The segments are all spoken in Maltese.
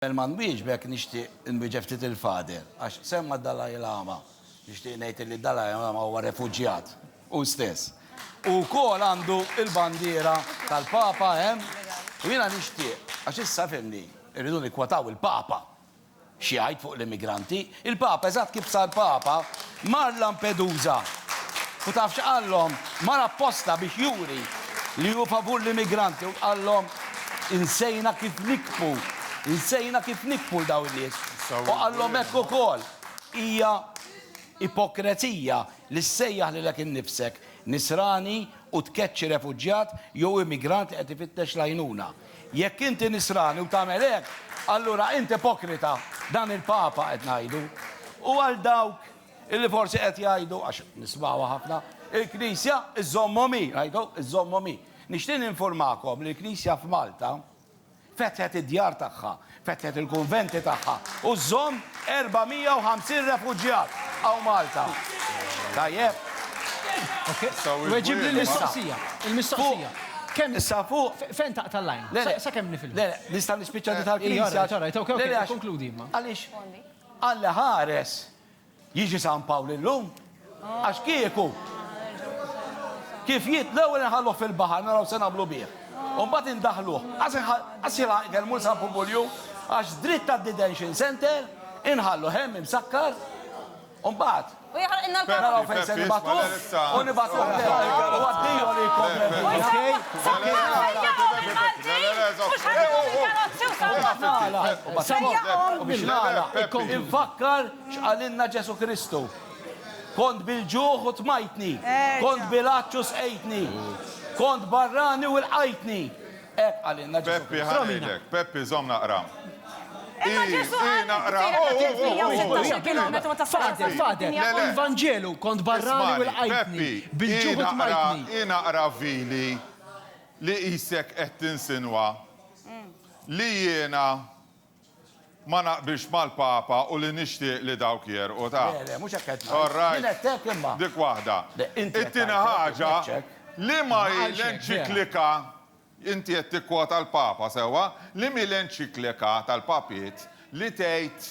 Qabel ma nwieġbek nixtieq inwieġeb ftit il-Father għax semma d-Dalai Lama. Nixtieq ngħid illi d-Dalai Lama huwa refuġjat hu stess. Hu wkoll għandu l-bandiera tal-Papa hemm u jiena nixtieq għax issa fhimni rridu nikkwataw il-Papa x'jgħid fuq l-immigranti. Il-Papa, eżatt kif sar Papa, mar Lampedusa. U taf x'qallhom? Mar apposta biex juri li hu favur l-immigranti u qallhom, Insejna kif nikbu, insejna kif nikbu 'l dawn in-nies. U qallhom hekk ukoll, Hija ipokrezija li ssejjaħ lilek innifsek Nisrani u tkeċċi refuġjat jew immigrant li qed ifittex l-għajnuna. Jekk inti Nisrani u tagħmel hekk, allura int ipokrita, dan il-Papa qed ngħidu. U għal dawk li forsi qed jgħidu, għax nismgħuha ħafna, il-Knisja żżommhom hi, ngħidu, żżommhom hi. Nixtieq ninfurmakom li l-Knisja f'Malta fetħet id-djar tagħha Fetħet il-kunventi tagħha u żżomm 450 refuġjat hawn Malta. Tajjeb. Weġib lill-mistoqsija. Il-mistoqsija. Kemm. Issa fuq. Fejn taqta' l-għajn? Le le. Sakemm nifilħu. Le le. Nista' nispiċċa di tal-Knisja. All right, all right. Okej, okej. Konkludi imma. Għaliex? Alla ħares Jiġi San Pawl illum? Għax kieku. Kif jiet l-ewwel inħalluh fil-baħar naraw se nagħmlu bih. U mbagħad indaħħluh. Qas jilħaq ikel mur San Pubulju għax dritt għad-detention center inħalluh hemm imsakkar u mbagħad. U jaħraqilna l-karozza. Naraw fejn se nibagħtuh u nibagħtuh lejn. U għaddejhom li jkompli. Okej. Okej. U biex nagħlaq, infakkar x'qalilna Ġesù Kristu, Kont bil-ġuħ u tmajtni, kont bil-għatx u sqejtni, kont barrani u lqajtni. Hekk qalilna Ġesù Kristu. Peppi, ħa ngħidlek. Peppi, żomm naqra. Imma Ġesù qallu kif hija ta' 316 kilometru meta sar għażel fuq id-dinja kollha. Fil-Vanġelu, kont barrani u lqajtni, bil-ġuħ u tmajtni. Ismagħni, Peppi, hi naqra vili li qisek qed tinsinwa. Li jiena ma naqbilx mal-Papa u li nixtieq li dawk jegħrqu ta'. Le, le, mhux hekk qed ngħid. All right. Jien għedt hekk imma. Dik waħda. Le, inti qed tgħid hekk. It-tieni ħaġa, liema hi l-enċiklika, inti qed tikkwota l-Papa, sewwa, liema hi l-enċiklika tal-Papiet li tgħid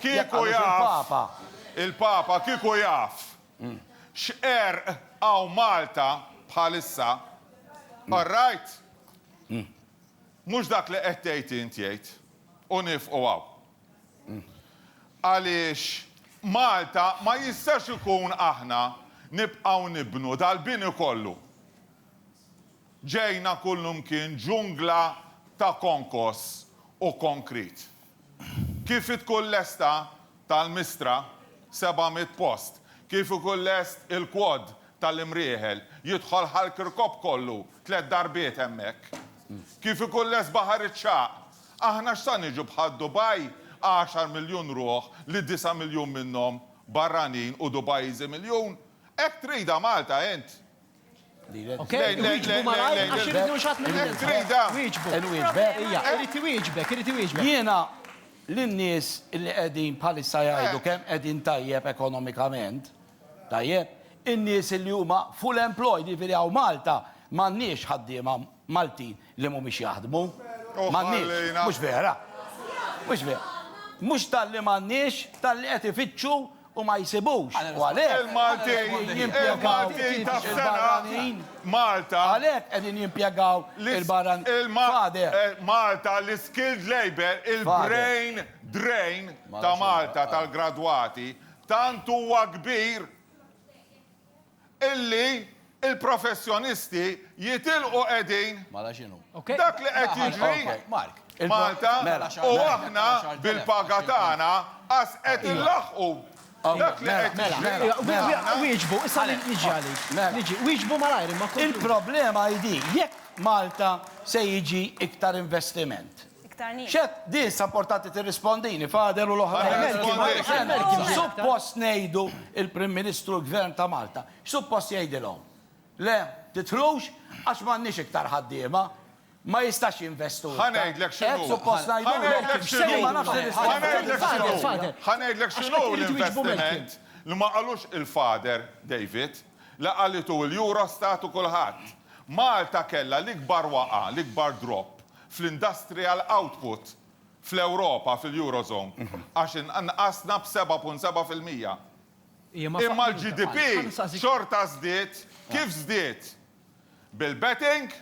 Kieku jaf il-Papa, kieku jaf x'qerq hawn Malta bħalissa, all right? Mhux dak li qed tgħid int jgħid, u niefqu hawn. Għaliex Malta ma jistax ikun aħna nibqgħu nibnu dal-bini kollu. Ġejna kullimkien ġungla ta' konkos u konkrit. Kif tkun lesta tal-Mistra, seba' mitt post. Kif ikun lest il-quad tal-Imrieħel, jidħol ħall-Kirkop kollu tliet darbiet hemmhekk. Kif ikun lest Baħar iċ-Ċagħaq. Aħna x'sa niġu bħal Dubai, għaxar miljun ruħ li disa' miljun minnhom barranin u Dubaiżi miljun? Hekk tridha Malta int? Jiena, lin-nies li qegħdin bħalissa jgħidu kemm qegħdin tajjeb ekonomikament, tajjeb, in-nies li huma full employed, jiġifieri hawn Malta m'għandniex ħaddiema Maltin. li mhumiex jaħdmu. M'għandniex, mhux vera. Mhux vera. Mhux talli m'għandniex, talli qed ifittxu u ma jsibux. U għalhekk. Il-Maltin, il-Maltin ta' f'sena, Malta. Għalhekk qegħdin jimpjegaw il-barranin. Father. Malta, l-iskilled labour, il-brain drain ta' Malta tal-gradwati, tant huwa kbir. illi l-professjonisti jitilqu qegħdin Dak li qed jiġri f'Malta u aħna bil-paga tagħna qas qed inlaħħqu dak li qed jiġri. Il-problema hi din, jekk Malta se jiġi iktar investiment, iktar nies. X'għedt? Din issa importanti tirrispondini, Father u l-oħrajn. X'suppost ngħidu il-Prim Ministru u l-Gvern ta' Malta? X'suppost jgħidilhom? Le, tidħlux għax m'għandniex iktar ħaddiema. Ma jistax jinvestu iktar. Ħa ngħidlek x'inhu. Hekk suppost ngħidu? Ħa ngħidlek x'inhu. Ħa ngħidlek x'inhu. Ħa ngħidlek x'inhu l-investiment li ma qalux il-Father David, li qalitu l-Eurostat u kulħadd. Malta kellha l-ikbar waqgħa, l-ikbar drop. fl-industrial output fl-Ewropa, fil-Eurozone, għax nqasna b'seba' punt seba' fil-mija. Imma l-GDP xorta żdied, kif żdied? Bil-betting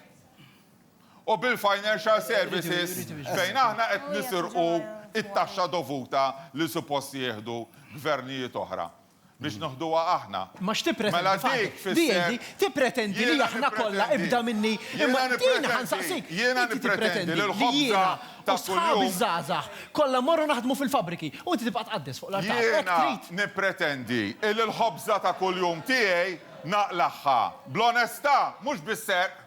u bil-financial services fejn aħna qed nisirqu t-taxxa dovuta li suppost jieħdu gvernijiet oħra. biex noħduha aħna. Ma x'tippretendi? Mela dik tfisser. VAT tippretendi li aħna kollha ibda minni. Imma din ħa nsaqsik. Jiena nippretendi li l-ħobża ta' kuljum. U sħabi ż-żgħażagħ kollha mmorru naħdmu fil-fabbriki u inti tibqa' tqaddes fuq l-artal. Hekk trid? Jiena nippretendi li l-ħobża ta' kuljum tiegħi naqlagħha bl-onestà mhux bis-serq.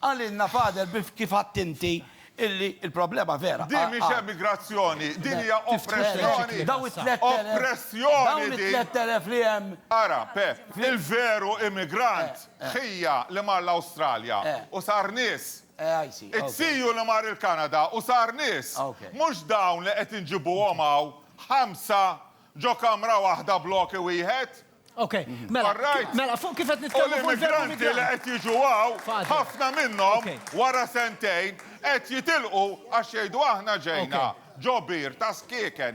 Qalilna Father Biff kif għadt inti illi l-problema vera Din mhix emigrazzjoni, din hija oppressjoni! Dawn it-tlett elef. Oppressjoni din! Dawn it-tlett elef li hemm. Ara, Pepp, il-veru immigrant ħija li mar l-Awstralja u sar nies. It-tfiju li mar il-Kanada u sar nies. Mhux dawn li qed inġibuhom hawn ħamsa ġo kamra waħda bloki wieħed. Ok, mela, mela, fuq kif qed nitkellmu fuq l-immigranti li qed jiġu għaw, ħafna minnhom wara sentejn qed jitilqu għax jgħidu aħna ġejna ġo bir ta' skieken.